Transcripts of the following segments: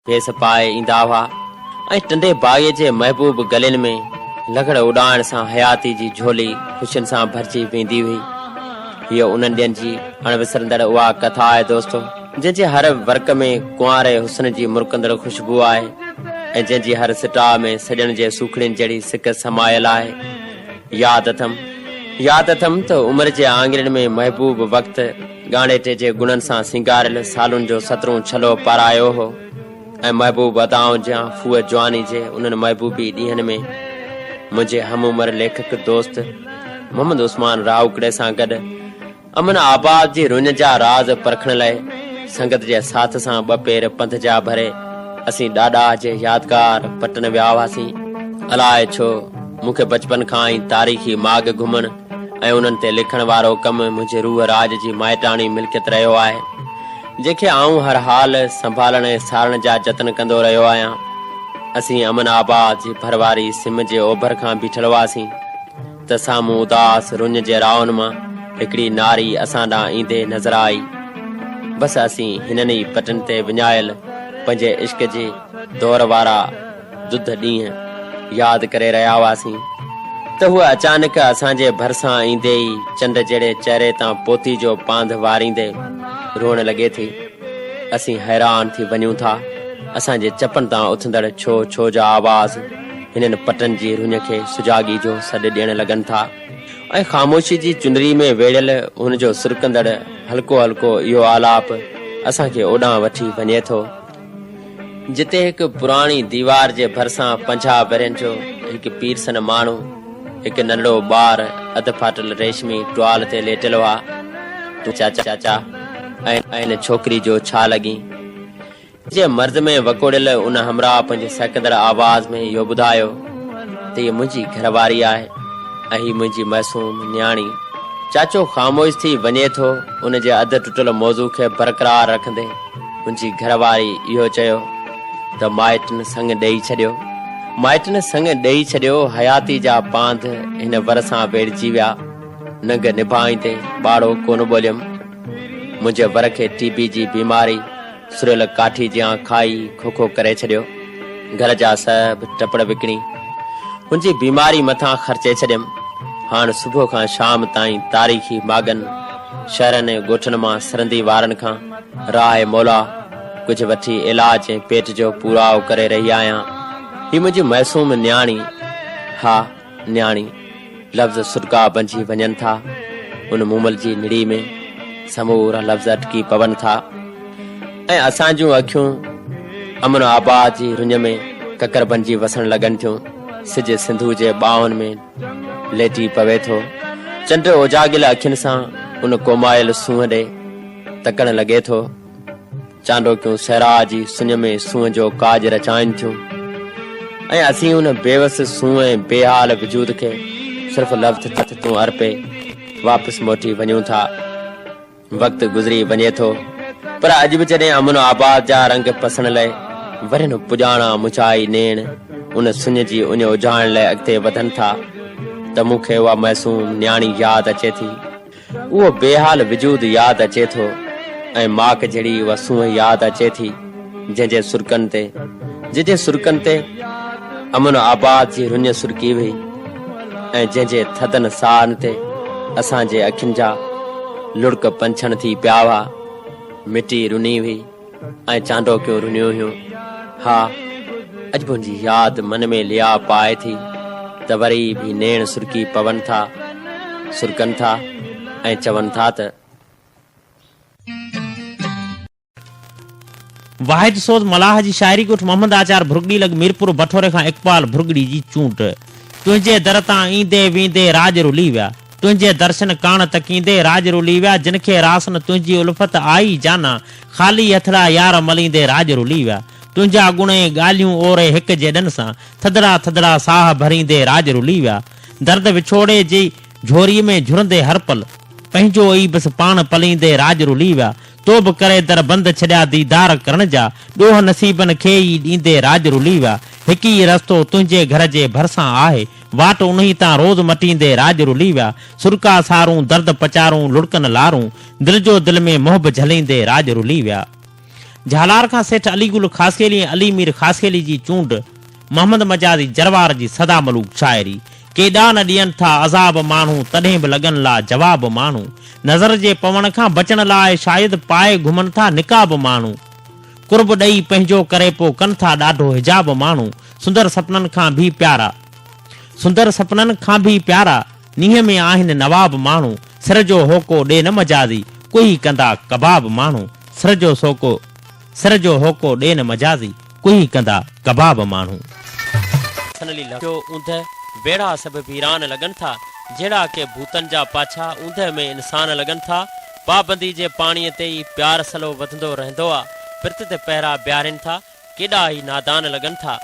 کيس پائي ايندا هئا ۽ ٽنڊي بائيء جي محبوب گلين ۾ لغڙ اڏائڻ سان حياتي جي جهولي خوشين سان ڀرجي ويندي هئي. هيء انهن ڏينهن جي اڻ وسرندڙ اها ڪٿا آهي دوستو، جنهن جي هر ورق ۾ ڪنواري حسن جي مرڪندڙ خوشبوء آهي ۽ جنهن جي هر سٽاء ۾ سڄڻ جي سوکڙين جهڙي سڪ سمايل آهي. ياد اٿم، ياد اٿم ته عمر جي آڱرين ۾ محبوب وقت، ڳاڻيٽي جي گڻن سان سينگاريل سالون جو سترون ڇلو پارايو هو ۽ محبوب ادائن جيان ڦوء جواني جي انهن محبوبي ڏينهن ۾ منهنجي هم عمر ليکڪ دوست محمد عثمان راهوڪڙي سان گڏ امن آباد جي رڃ جا راز پرکڻ لئي سنگت جي ساٿ سان ٻه پير پنڌ جا ڀري اسين ڏاڏاهه جي يادگار پٽن ويا هئاسين الاء ڇو مون کي بچپن کان ئي تاريخي ماڳ گهمڻ ۽ انهن تي لکڻ وارو ڪم منهنجي روح راڄ جي مائٽاڻي ملڪيت رهيو آهي، جنهن کي آئون هر حال سنڀالڻ ۽ سارڻ جا جتن ڪندو رهيو آهيان. اسين امن آباد جي ڀر واري سم جي اوڀر کان بيٺل هئاسين ته سامهون اداس رڃ جي راهن مان هڪڙي ناري اسان ڏانهن ايندي نظر آئي. بس اسين هنن ئي پٽن تي وڃايل پنهنجي عشق جي دور وارا ڌڌ ڏينهن ياد ڪري رهيا هئاسين ته هوء اچانڪ اسان جي ڀرسان ايندي ئي چنڊ جهڙي چهري تان پوتي جو پانڌ واريندي روئڻ لڳي ٿي. اسين حيران ٿي وڃون ٿا. اسان جي چپن تان اٿندڙ ڇو ڇو جا آواز هنن پٽن جي رڃ کي سجاڳي جو سڏ ڏيڻ لڳن ٿا ۽ خاموشي جي چنري ۾ ويڙهيل هن جو سرڪندڙ هلڪو هلڪو اهو آلاپ اسان کي اوڏانهن وٺي وڃي ٿو. جتي هڪ پراڻي ديوار جي ڀرسان پنجاهه ورهين جو هڪ پيرسن ماڻهو هڪ ننڍڙو ٻار اڌ ڦاٽل ريشمي ٽوال تي ليٽل هئا تون چاچا چاچا ۽ ڇوڪري جو ڇا لڳين جي مرض ۾ وڪوڙيل ان همراهه پنهنجي سهڪندڙ آواز ۾ اهو ٻڌايو ته هي منهنجي گهرواري آهي ۽ هي منهنجي معصوم نياڻي چاچو خاموش ٿي وڃي ٿو ان جي اڌ ٽٽل موضوع کي برقرار رکندي منهنجي گهر واري اهو چيو ته مائٽن سڱ ڏيئي ڇڏيو. مائٽن سڱ ڏيئي ڇڏيو، حياتي جا پانڌ هن ور سان ويڙهجي ويا. ننگ نڀائين تي ٻاڙو ڪونه ٻوليم. منهنجي ور کي ٽي بي جي بيماري سريل ڪاٺي جيان کائي کوکو ڪري ڇڏيو. گهر جا سڀ ٽپڙ وڪڻي هن جي بيماري مٿان خرچي ڇڏيم. هاڻ صبح کان شام تائين تاريخي ماڳن، شهرن ۽ ڳوٺن مان سرندي وارن کان راء مولا ڪجهه وٺي علاج ۽ پيٽ جو پوراء ڪري رهي آهيان. هي منهنجي معصوم نياڻي، ها نياڻي، لفظ سڏڪا بنجي وڃن ٿا، ان مومل جي نڙي ۾ سمورا لفظ اٽڪي پون ٿا ۽ اسان جون اکيون امن آباد جي رڃ ۾ ڪڪر بنجي وسڻ لڳن ٿيون، سج سنڌو جي ٻانهن ۾ ليٽي پوي ٿو. چنڊ اوجاڳيل اکين سان ان ڪومايل سونهن ڏي تڪڻ لڳي ٿو. چانڊوڪيون صحرا جي سڃ ۾ سونهن جو ڪاڄ رچائين ٿيون ۽ اسين ان بيوس سونهن ۽ بيحال وجود کي صرف لفظ تون ارپي واپس موٽي وڃون ٿا. وقت گذري وڃي ٿو پر اڄ به جڏهن امن و آباد جا رنگ پسڻ لئي ورن پڄاڻا مچائي نيڻ ان سڃ جي اڃ اجهائڻ لئي اڳتي وڌن ٿا ته مون کي اها معصوم نياڻي ياد اچي ٿي اهو بيحال وجود ياد اچي ٿو ۽ ماڪ جهڙي اها سونهن ياد اچي ٿي جنهن جي سرڪن تي جنهن جي سرڪن تي امن آباد جي رڃ سرڪي وئي ۽ جنهن جي ٿڌن ساهن تي اسان جي اکين جا لڙڪ پنڇڻ ٿي پيا هئا مٽي رني هئي ۽ چانڊوڪيون رنيون هيون ها اڄ به ان جي ياد من ۾ ليا پائي ٿي ته وري به نيڻ سرڪي پون ٿا سرڪن ٿا ۽ چون ٿا ته واحد سوز ملاح جي شاعري ڳوٺ محمد آچار ڀرڳڙي لڳ ميرپور بٺوري کان اقبال ڀرڳڙي جي چونڊ تنهنجي در تان ايندي ويندي راڄ رلي ويا تنهنجي درشن ڪاڻ تڪيندي راڄ رلي ويا جن کي راسن تنهنجي الفت آئي جانا خالي هٿڙا يار مليندي راڄ رلي ويا تنهنجا گڻ ۽ ڳالهيون اوري هڪ جيڏن سان ٿڌڙا ٿڌڙا ساهه ڀريندي راڄ رلي ويا درد وڇوڙي جي جهوري ۾ جهرندي هر پل پنهنجو ئي بس پاڻ پليندي راڄ رلي ويا تو به ڪري در بند ڇڏيا ديدار ڪرڻ جا ڏوهه نصيبن کي ئي ڏيندي راڄ رلي ويا هڪ ئي رستو تنهنجي گهر جي ڀرسان آهي واٽ انهي تان روز مٽيندي راڄ رلي ويا سرڪا سارون درد پچارون لڙڪن لارون دل جو دل ۾ محب جهليندي راڄ رلي ويا. جهالار کان سيٺ علي گل خاصخيلي ۽ علي مير خاصخيلي جي چونڊ. محمد مجازي جروار جي سدا ملوڪ شاعري، ڪيڏا نه ڏين ٿا عذاب ماڻهو تڏهن به لڳن لا جواب ماڻهو، نظر جي پوڻ کان بچڻ لاء شايد پائي گهمن ٿا نقاب ماڻهو، قرب ڏئي پنهنجو ڪري پو ڪن ٿا ڏاڍو حجاب ماڻهو، سندر سپنن کان ڀي پيارا، سندر سپنن کان ڀي پيارا، نينهن ۾ آهن نواب ماڻهو، سر جو هوڪو ڏي نه مجازي، ڪوهي ڪندا ڪباب ماڻهو، سر جو سوڪو، سر جو هوڪو ڏي نه مجازي، ڪوئي ڪندا ڪباب ماڻهو. سن لي لکيو، اوندهه ويڙها سڀ ويران لڳن ٿا، جهڙا ڪي ڀوتن جا پاڇا اوندهه ۾ انسان لڳن ٿا. پابندي جي پاڻيء تي ئي پيار سلو وڌندو رهندو آ، پرت تي پهرا بيهارين ٿا، ڪيڏا هي نادان لڳن ٿا.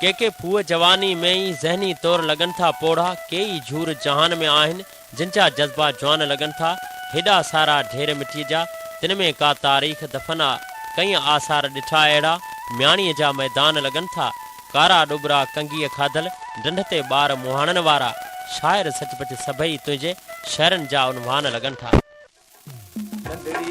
ڪي ڪي ڦوهه جواني ۾ ئي ذهني طور لڳن ٿا پوڙها، ڪي ئي جهور جهان ۾ آهن، جن جا جذبا جوان لڳن ٿا، هيڏا سارا ڍير مٽيء جا، تن ۾ ڪا تاريخ دفن آ، ڪئين آثار ڏٺا اهڙا، مياڻيء جا ميدان لڳن ٿا، ڪارا ڏٻرا ڪنگيء کاڌل، ڍنڍ تي ٻار مهاڻن وارا، شاعر سچ پچ سڀئي تنهنجي، شعرن جا عنوان لڳن ٿا. ننڍڙيء